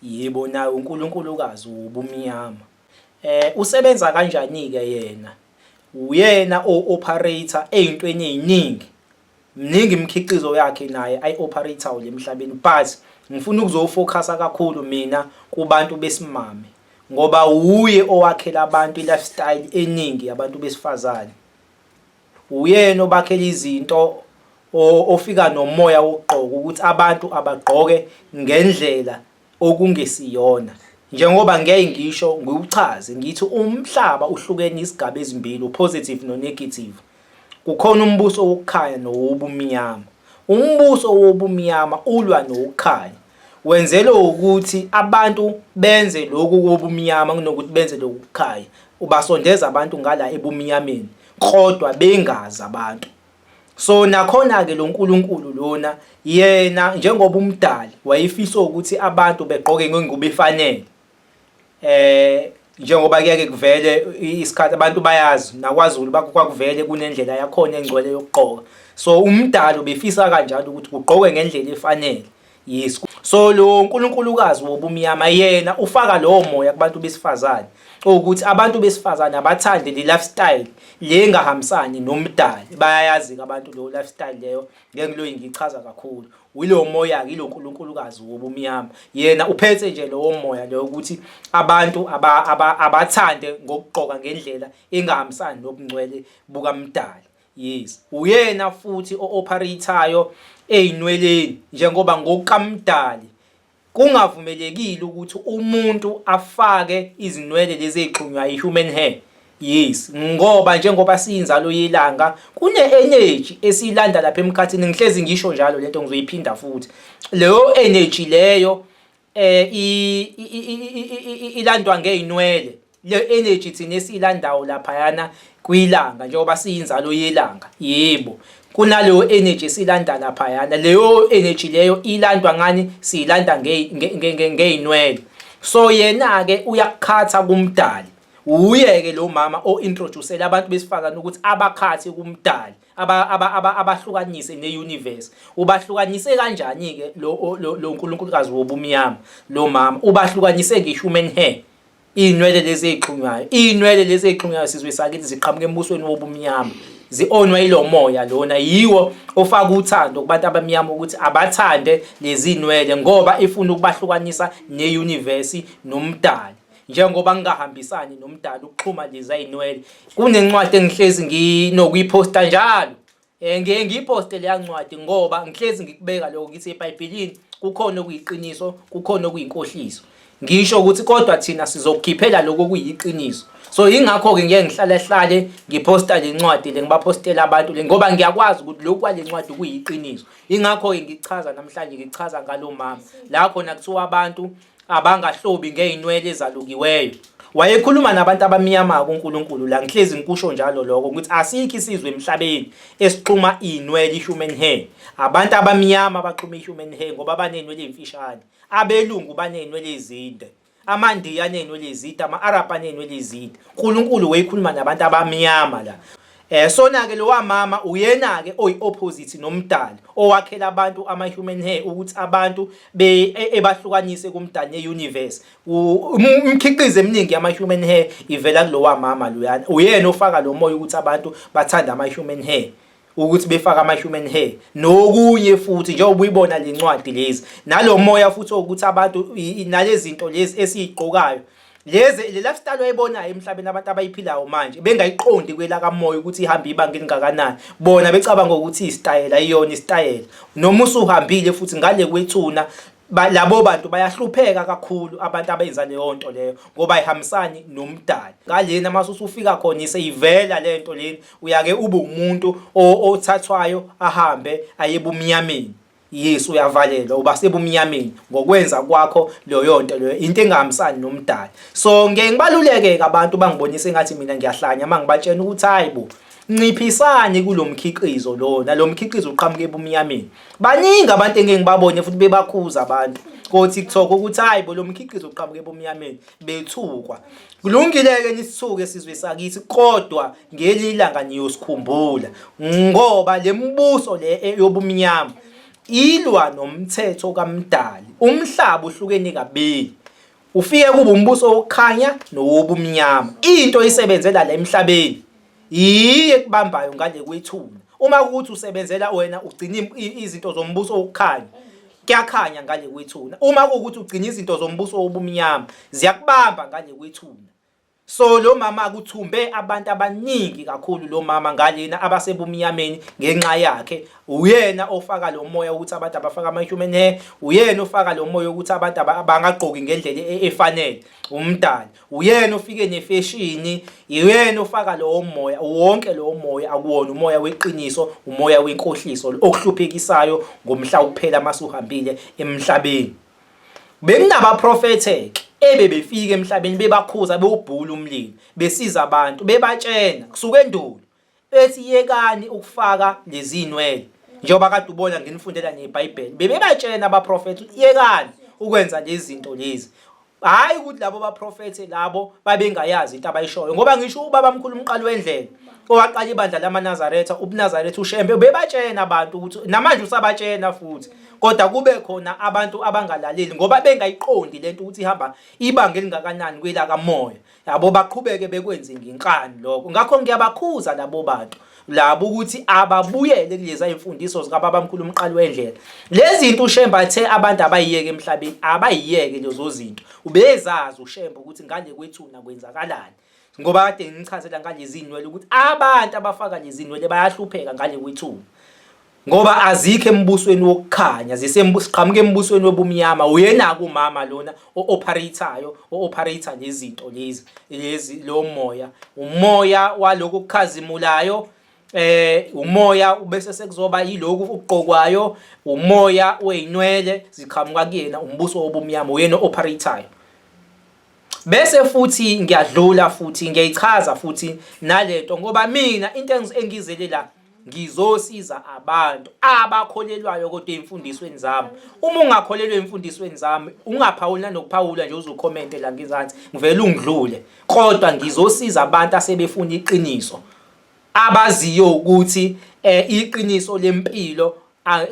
Yebo, naye uNkulunkulukazi wobumnyama. Eh, usebenza kanjani-ke yena? Uyena o-operator ey'ntweni ey'ningi. Mningi imikhiqizo yakhe naye ayi-operator lemhlabeni but ngifuna ukuzofocus kakhulu mina kubantu besimame ngoba wuye owakhela abantu i-lifestyle eningi yabantu besifazane. Uyena obakhela izinto ofika nomoya wokugqoka ukuthi abantu abagqoke ngendlela okungesiyona njengoba ngeke ngisho ngiwuchaze ngithi umhlaba uhlukene izigaba ezimbili upositive nonegative kukhona umbuso wokukhanya nowobumnyama umbuso wobumnyama ulwa nokukhanya Wenzelwe ukuthi abantu benze lokhu kobumnyama kunokuthi benze lokhu kukhaya. Ubasondeza abantu ngala ebumnyameni kodwa bengazi abantu. So nakhona-ke lo Nkulunkulu lona yena njengoba umdali wayefisa ukuthi abantu begqoke ngengubo efanele. eh njengoba kuyake kuvele isikhathi abantu bayazi nakwaZulu kwakuvele kunendlela yakhona engcwele yokugqoka so umdalo befisa kanjalo ukuthi kugqokwe ngendlela efanele yes so lo uNkulunkulukazi wobumnyama yena ufaka lowo moya kubantu besifazane ukuthi abantu besifazane abathande le lifestyle le engahambisani nomdali bayayazi abantu lo lifestyle leyo ngeke ngiloyi ngichaza kakhulu wilowo moya-ke ilo nkulunkulukazi wobumnyama yena uphethe nje lowo moya loyo ukuthi abantu abathande ngokugqoka ngendlela engahambisani nobungcwele bukamdali yes uyena futhi o-operator-yo ey'nweleni njengoba ngokukamdali Kungavumelekile ukuthi umuntu afake izinwele lezi ezixhunywa i-human hair. Yes, ngoba njengoba siyinzalo yelanga kune-energy esiyilanda lapha emkhathini ngihlezi ngisho njalo lento ngizoyiphinda futhi. Leyo energy leyo eh ilandwa ngeyinwele Le energy thina esiyilandawo laphayana kwilanga njengoba siyinzalo yelanga yebo kunaleyo energy silanda laphayana leyo energy leyo ilandwa ngani siyilanda ngeyinwele so yena ke uyakukhatha kumdali uyeke lo mama o introducele abantu besifazana ukuthi abakhathi kumdali abahlukanise ne universe ubahlukanise kanjani ke lo lo uNkulunkulukazi wobumnyama lo mama ubahlukanise nge human hair Iy'nwele lezi ey'xhunywayo, iy'nwele lezi ey'xhunywayo sizwe sakithi ziqhamuka embusweni wobumnyama. Zi-onwa yilo moya lona, yiwo ofaka uthando kubantu abamnyama ukuthi abathande lezi zinwele ngoba ifuna ukubahlukanisa neyunivesi nomdali. Njengoba ngingahambisani nomdali ukuxhuma lezi zinwele, kunencwadi engihlezi nginokuyiphosta njalo Eh ngiye ngiyiposte leya ncwadi ngoba ngihlezi ngikubeka lokho ngithi eBhayibhelini kukhona okuyiqiniso kukhona okuyinkohliso. Ngisho ukuthi kodwa thina sizokukhiphela lokho kuyiqiniso. So ingakho ke ngiye ngihlale hlale ngiposta le ncwadi le ngibapostela abantu le ngoba ngiyakwazi ukuthi lokhu kwale ncwadi kuyiqiniso. Ingakho ke ngichaza namhlanje ngichaza ngalo mama. La khona kuthiwa abantu abangahlobi ngey'nwele ezalukiweyo wayekhuluma nabantu abamnyama kuNkulunkulu la ngihlezi ngikusho njalo lokho ukuthi asikho isizwe emhlabeni esixhuma inwele i-human hair abantu abamnyama abaxhuma i-human hair ngoba banenwele ezimfishane abelungu banenwele ezinde amandiya anenwele ezide ama-arab anenwele ezide unkulunkulu wayekhuluma nabantu abamnyama la Eh sona ke lowa mama uyena ke oyi opposite nomdali owakhela abantu ama human hair ukuthi abantu be e, ebahlukanise kumdali ne universe umkhiqizo eminingi ama human hair ivela kulowa mama loyana uyena ofaka lo moya ukuthi abantu bathanda ama human hair ukuthi befaka ama human hair nokunye futhi njengoba uyibona lencwadi lezi nalomoya futhi ukuthi abantu nalezinto lezi esizigqokayo leze le lifestyle oyibonayo emhlabeni abantu abayiphilayo manje bengayiqondi kwela kamoya ukuthi ihamba ibanga elingakanani bona becabanga ukuthi isitayela iyona isitayela noma usuhambile futhi ngale kwethuna labo bantu bayahlupheka kakhulu abantu abenza leyo nto leyo ngoba ihambisani nomdali ngalena mase usufika khona iseyivela le nto leni uyake ube umuntu othathwayo ahambe ayebumnyameni Yes uyavalelwa uba sebumnyameni ngokwenza kwakho leyo nto leyo into engahambisani nomdali so ngeke ngibaluleke abantu bangibonise ngathi mina ngiyahlanya mangibatshena ukuthi hayibo nciphisani kulomkhiqizo lona lomkhiqizo uqhamuke ebumnyameni baningi abantu engeke ngibabone futhi bebakhuza abantu kothi kuthoka ukuthi hayibo lomkhiqizo uqhamuke ebumnyameni bethukwa kulungile-ke nisithuke sizwe sakithi kodwa ngeli langa niyosikhumbula ngoba le mbuso le e-, yobumnyama ilwa nomthetho kamdali umhlaba uhlukene kabili ufike kuba umbuso wokukhanya nowobumnyama into isebenzela la emhlabeni Yiye ekubambayo ngane kwethuna. Uma ukuthi usebenzela wena ugcina im- i- izinto zombuso wokukhanya. Kuyakhanya ngane kwethuna. Uma ukuthi ugcina izinto zombuso wobumnyama, ziyakubamba ngane kwethuna. So lo mama kuthumbe abantu abaningi kakhulu lo mama ngalena abasebumnyameni ngenxa yakhe. Uyena ofaka lo moya ukuthi abantu abafaka ama-human hair, uyena ofaka lo moya ukuthi abantu aba- abangagqoki ngendlela e- efanele, umdali. uyena ofike nefeshini uyena ofaka lowo moya wonke lowo moya akuwona umoya weqiniso umoya wenkohliso okuhluphekisayo ngomhla uphela masuhambile emhlabeni bekunabaprofethe ke ebebefika emhlabeni bebakhuza bewubhula umlilo besiza abantu bebatshena kusuke endulo ethi yekani ukufaka lezinwele njengoba kade ubona nginifundela neBhayibheli bebebatshena abaprofethi yekani ukwenza lezi zinto lezi hayi ukuthi labo baprofethe labo babengayazi into abayishoyo ngoba ngisho ubaba mkhulu umqali wendlela owaqala ibandla lamanazaretha ubunazaretha ushembe bebatshena abantu ukuthi namanje usabatshena futhi kodwa kube khona abantu abangalaleli ngoba bengayiqondi lento ukuthi ihamba ibanga elingakanani kwelakamoya yabo baqhubeke bekwenze ngenkani lokho ngakho ngiyabakhuza labo bantu labo ukuthi ababuyele kuleza imfundiso zikababamkhulu umqali wendlela lezi zinto ushemba athe abantu abayiyeke emhlabeni abayiyeke lezo zinto ubezazi ushemba ukuthi ngale kwethuna kwenzakalani ngoba kade ngichazela ngalezi zinwele ukuthi abantu abafaka lezi zinwele bayahlupheka ngale kwethuna ngoba azikho embusweni wokukhanya zisembusqhamuke embusweni wobumnyama uyena kumama lona o-operator-yo o-operator lezinto lezi lezi lo moya umoya waloko kukhazimulayo eh umoya ubese sekuzoba yiloku uqokwayo umoya oyinwele ziqhamuka kuyena umbuso wobumnyama uyena operator bese futhi ngiyadlula futhi ngiyayichaza futhi nalento ngoba mina into engizele la ngizosiza abantu abakholelwayo kodwa ezimfundisweni zami uma ungakholelwa ezimfundisweni zami ungaphawuli nanokuphawula nje uzocomment la ngizansi ngivela ungidlule kodwa ngizosiza abantu asebefuna iqiniso abaziyo ukuthi eh, iqiniso lempilo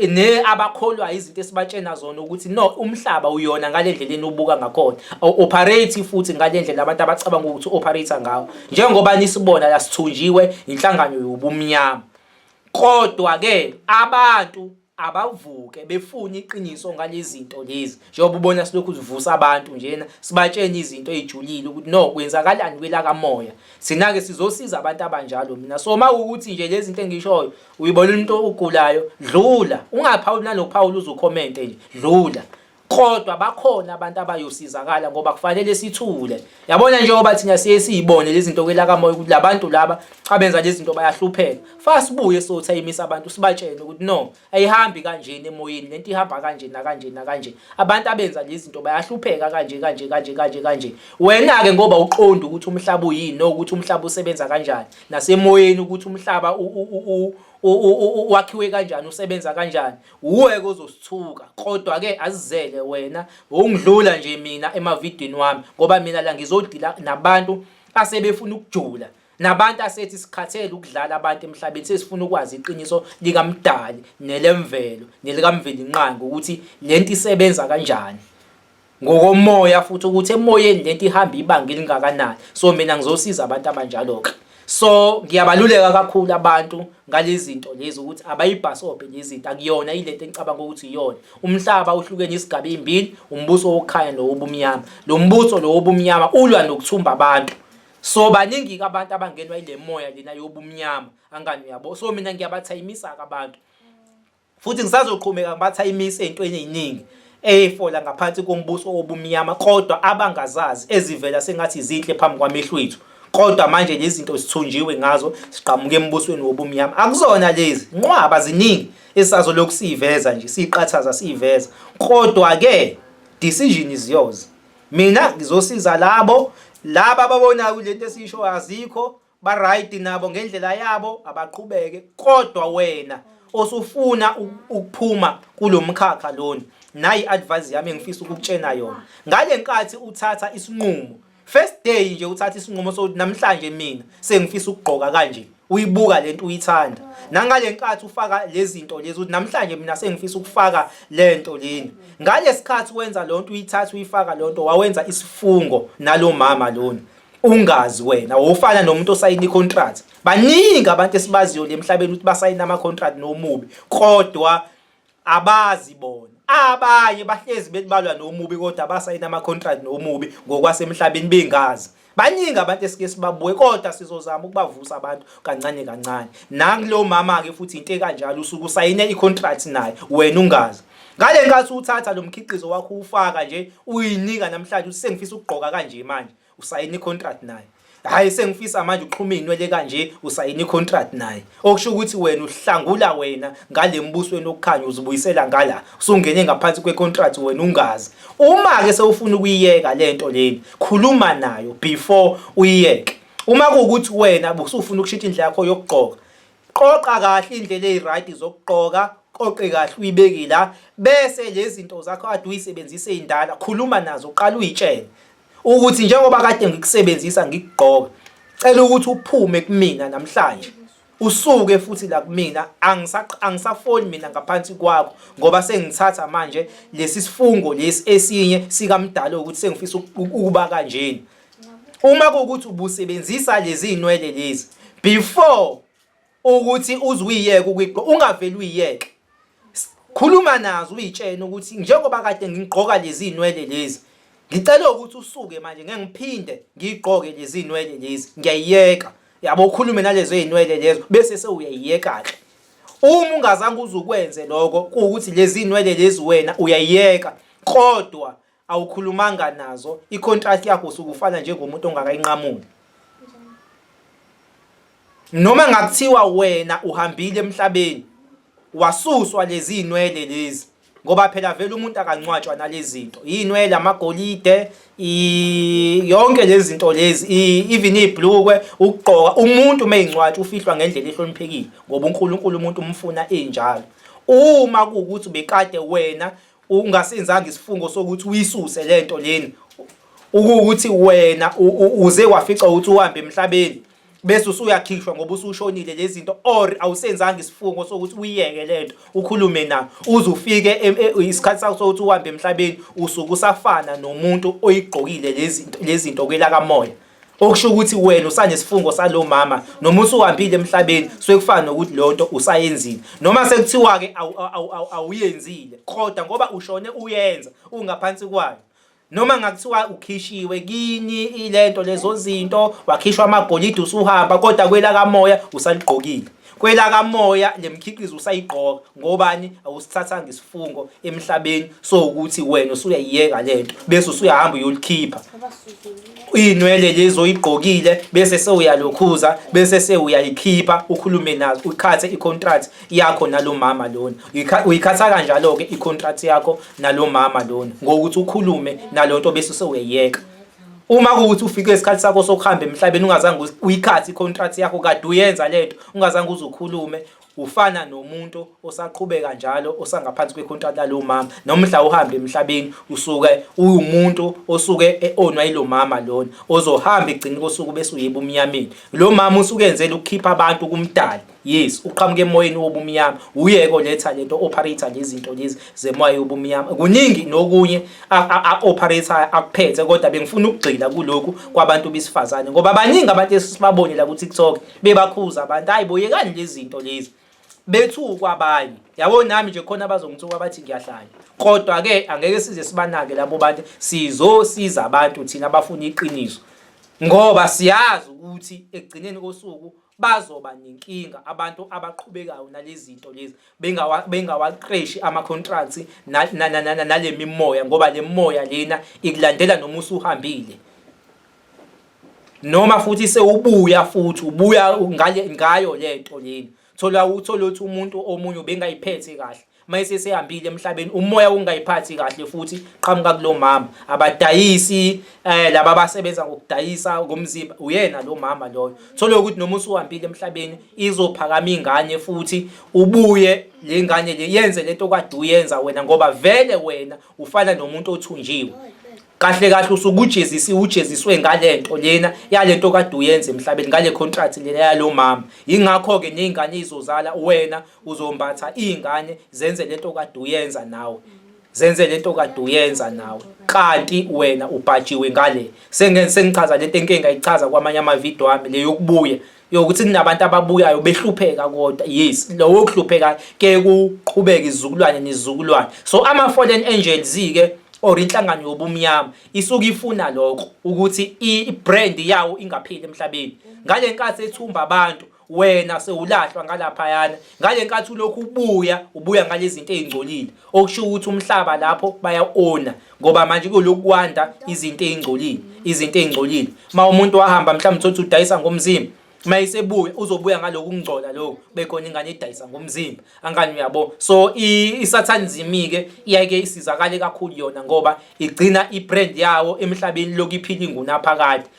ne abakholwayo izinto esibatshena zona ukuthi no umhlaba uyona ngalendlela enubuka ngakhona operate futhi ngalendlela abantu abacabanga ukuthi operate ngawo njengoba nisibona la sithunjiwe inhlangano yobumnyama kodwa ke abantu abavuke befuna iqiniso ngalezinto lezi njengoba ubona silokhu sivusa abantu njena sibatshena izinto ezijulile ukuthi no kwenzakalani kwelakamoya sina ke sizosiza abantu abanjalo mina so mawukuthi nje lezi zinto engishoyo uyibona umuntu ogulayo dlula ungaphawuli nanokuphawula uzukhomente nje dlula kodwa bakhona abantu abayosizakala ngoba kufanele sithule yabona njengoba thina siye siyibone lezi zinto kwelaka moya ukuthi labantu laba abenza lezi zinto bayahlupheka fa sibuye sotha imisa abantu sibatshene ukuthi no ayihambi kanjeni emoyeni lento ihamba kanje nakanje nakanje abantu abenza lezi zinto bayahlupheka kanje kanje kanje kanje kanje wena ke ngoba uqonda ukuthi umhlaba uyini nokuthi umhlaba usebenza kanjani nasemoyeni ukuthi umhlaba wakhiwe kanjani usebenza kanjani uweke ozosithuka kodwa ke azizele wena ngokungidlula nje mina emavidini wami ngoba mina la ngizodila nabantu asebefuna ukujula nabantu asethi sikhathele ukudlala abantu emhlabeni sesifuna ukwazi iqiniso likamdali nelemvelo nelikamvelinqangi ukuthi lento isebenza kanjani ngokomoya futhi ukuthi emoyeni lento ihamba ibanga elingakanani so mina ngizosiza abantu abanjalo-ke so ngiyabaluleka kakhulu abantu ngalezi zinto lezi ukuthi abayibhasobhe lezi zinto akuyona ilento engicabanga ukuthi iyona umhlaba uhlukene isigaba ezimbili umbuso wokukhanya nowobumnyama lo mbuso lo wobumnyama ulwa nokuthumba abantu so baningi abantu abangenwa ile moya lena yobumnyama angani uyabo so mina ngiyabathayimisa-ke abantu Futhi ngisazoqhubeka ngibatha imisi ey'ntweni ey'ningi eyifola ngaphansi kombuso wobumnyama kodwa abangazazi ezivela sengathi zinhle phambi kwamehlo ethu kodwa manje lezi zinto sithunjiwe ngazo siqhamuke embusweni wobumnyama akuzona lezi nqwaba ziningi esazolokhu siyiveza nje siyiqathaza siyiveza kodwa-ke decision is yours mina ngizosiza labo laba ababonayo kule nto esiyishoyo azikho ba right nabo ngendlela yabo abaqhubeke kodwa wena osufuna u- ukuphuma kulomkhakha lona nayi advice yami engifisa ukukutshena yona ngalenkathi uthatha isinqumo first day nje uthatha isinqumo sokuthi namhlanje mina sengifisa ukugqoka kanje uyibuka lento uyithanda nangalenkathi ufaka lezinto lezi ukuthi namhlanje mina sengifisa ukufaka lento leni ngalesikhathi wenza lonto uyithatha uyifaka lonto wawenza isifungo nalomama lona ungazi wena wofana nomuntu osayina icontract baningi abantu esibaziyo lemhlabeni ukuthi basayina ama contract nomubi kodwa abazi bona abanye bahlezi belibalwa nomubi kodwa basayina ama contract nomubi ngokwasemhlabeni bengazi baningi abantu esike sibabuke kodwa sizozama ukubavusa abantu kancane kancane nakulo mama ke futhi into ekanjalo usuke usayine icontract naye wena ungazi Ngale nkathi uthatha lo mkhiqizo wakho uwufaka nje uyinika namhlanje usengifisa ukugqoka kanje manje usayina icontract naye hayi sengifisa manje uxhuma izinwele kanje usayina icontract naye okusho ukuthi wena uhlangula wena ngale mbusweni okukhanya uzibuyisela ngala usungene ngaphansi kwecontract wena ungazi uma ke sewufuna ukuyiyeka lento leni khuluma nayo before uyiyeke uma kuwukuthi wena busufuna ukushintsha indlela yakho yokugqoka Qoqa kahle indlela eyirayidi zokugqoka, qoqe kahle uyibeke la bese lezi zinto zakho ade uyisebenzise indala khuluma nazo uqala uyitshele ukuthi njengoba kade ngikusebenzisa ngikugqoka cela ukuthi uphume kumina namhlanje usuke futhi la kumina angisafoni mina ngaphansi kwakho ngoba sengithatha manje lesi sifungo lesi esinye sikamdala ukuthi sengifisa ukuba kanjena uma kuwukuthi ubusebenzisa lezi nwele lezi before ukuthi uzuyiyeke ukuyigqo ungaveli uyiyeke khuluma nazo uyitshene ukuthi njengoba kade ngigqoka lezi nwele lezi ngicela ukuthi usuke manje ngeke ngiphinde ngigqoke lezi nwele lezi ngiyayiyeka yabo ukhulume nalezo ezinwele lezo bese sewuyayiyeka ke uma ungazange uzukwenze lokho kuwukuthi lezi inwele lezi wena uyayiyeka kodwa awukhulumanga nazo icontract yakho usukufana njengomuntu ongakayinqamuli noma ngakuthiwa wena uhambile emhlabeni wasuswa lezi inwele lezi ngoba phela vele umuntu akancwatshwa nalezinto inwele amagolide yonke lezinto lezi even iblukwe ukugqoka umuntu meyincwatsha ufihlwa ngendlela ehloniphekile ngoba uNkulunkulu umuntu umfuna enjalo uma kuwukuthi bekade wena ungasenzanga isifungo sokuthi uyisuse lento lena ukuthi wena uze wafica ukuthi uhambe emhlabeni bese usuyakhishwa ngoba usushonile lezinto or awusenzanga isifungo sokuthi uyeke lento ukhulume na uze ufike e, e, isikhathi sakho sokuthi uhambe emhlabeni usuke usafana nomuntu oyigqokile lezinto lezinto kwelaka moya okusho ukuthi wena usanesifungo salo mama noma usuhambile emhlabeni sekufana nokuthi leyo nto usayenzile noma sekuthiwa-ke awuyenzile kodwa ngoba ushone uyenza ungaphansi kwayo noma ngakuthiwa ukhishiwe kini ilento lezo zinto wakhishwa amagolide usuhamba kodwa kwelakamoya usaligqokile Kwelakamoya le mkhiqizo usayigqoka ngobani awusithathanga isifungo emhlabeni so ukuthi wena usuyayiyeka le nto bese usuyahamba uyolikhipha iy'nwele lezi oyigqokile bese sewuyalokhuza bese sewuyayikhipha ukhulume nazo uyikhathe i-contract yakho nalo mama lona uyikhatha kanjalo-ke i-contract yakho nalo mama lona ngokuthi ukhulume nalo nto bese sewuyayiyeka uma kuwuthi ufike isikhathi sakho sokuhamba emhlabeni ungazange uyikhathi i-contract yakho kade uyenza le nto ungazange uze ukhulume ufana nomuntu osaqhubeka njalo osangaphansi kwecontract lalo mama noma mhla uhamba emhlabeni usuke uwumuntu osuke eonwa yilo mama lona ozohamba egcina kosuku bese uyeba umnyameni lo mama usuke enzela ukukhipha abantu kumdali Yes, uqhamuka emoyeni wobumnyama. Uyeke oletha lento operator lezinto lezi zemoya yobumnyama. Kuningi nokunye operator akuphethe kodwa bengifuna ukugxila kulokhu kwabantu besifazane ngoba baningi abantu esibabone la ku TikTok bebakhuza abantu. Hayi boyekani lezinto lezi. Bethukwa abanye. Yabo nami nje khona abazongithuka bathi ngiyahlanya. Kodwa ke angeke size sibanake labo bantu sizosiza abantu thina abafuna iqiniso. Ngoba siyazi ukuthi ekugcineni kosuku bazoba nenkinga abantu abaqhubekayo nalezinto lezi bengawa bengawaqeshi ama contracts nalemimoya ngoba lemoya lena ikulandela noma usuhambile noma futhi sewubuya futhi ubuya ngale ngayo lento lena thola uthola ukuthi umuntu omunye bengayiphethe kahle mayise sehambile emhlabeni umoya ungayiphathi kahle futhi qhamuka kulomama abadayisi eh laba basebenza ngokudayisa ngomzimba uyena lo mama loyo thole ukuthi noma usuhambile emhlabeni izophakama ingane futhi ubuye le ngane le yenze lento kade uyenza wena ngoba vele wena ufana nomuntu othunjiwe kahle kahle usukujezisiwe ujeziswe ngalento lena yalento kade uyenza emhlabeni ngale contract lena yalomama ingakho ke nezingane izozala wena uzombatha izingane zenze lento okade uyenza nawe zenze lento okade uyenza nawe kanti wena ubhajiwe ngale sengenze sengichaza lento enkinga ichaza kwamanye ama video ami le yokubuya yokuthi kunabantu ababuyayo behlupheka kodwa yes lowo kuhlupheka ke kuqhubeka izizukulwane nezizukulwane so ama fallen angels ke or inhlangano yobumnyama isuke ifuna lokho ukuthi i brand yawo ingapheli emhlabeni ngalenkathi ethumba abantu wena sewulahlwa ngalaphayana ngale nkathi ulokhu ubuya ubuya ngalezinto ezingcolile okusho ukuthi umhlaba lapho bayaona ngoba manje kulokwanda izinto ezingcolile izinto ezingcolile uma umuntu wahamba mhlawumbe uthi udayisa ngomzimba uma isebuya uzobuya ngaloku kungcola lokho bekhona ingane edayisa ngomzimba angani uyabo so isathane zimike iyake isizakale kakhulu yona ngoba igcina ibrand yawo emhlabeni lokuphila ingunaphakade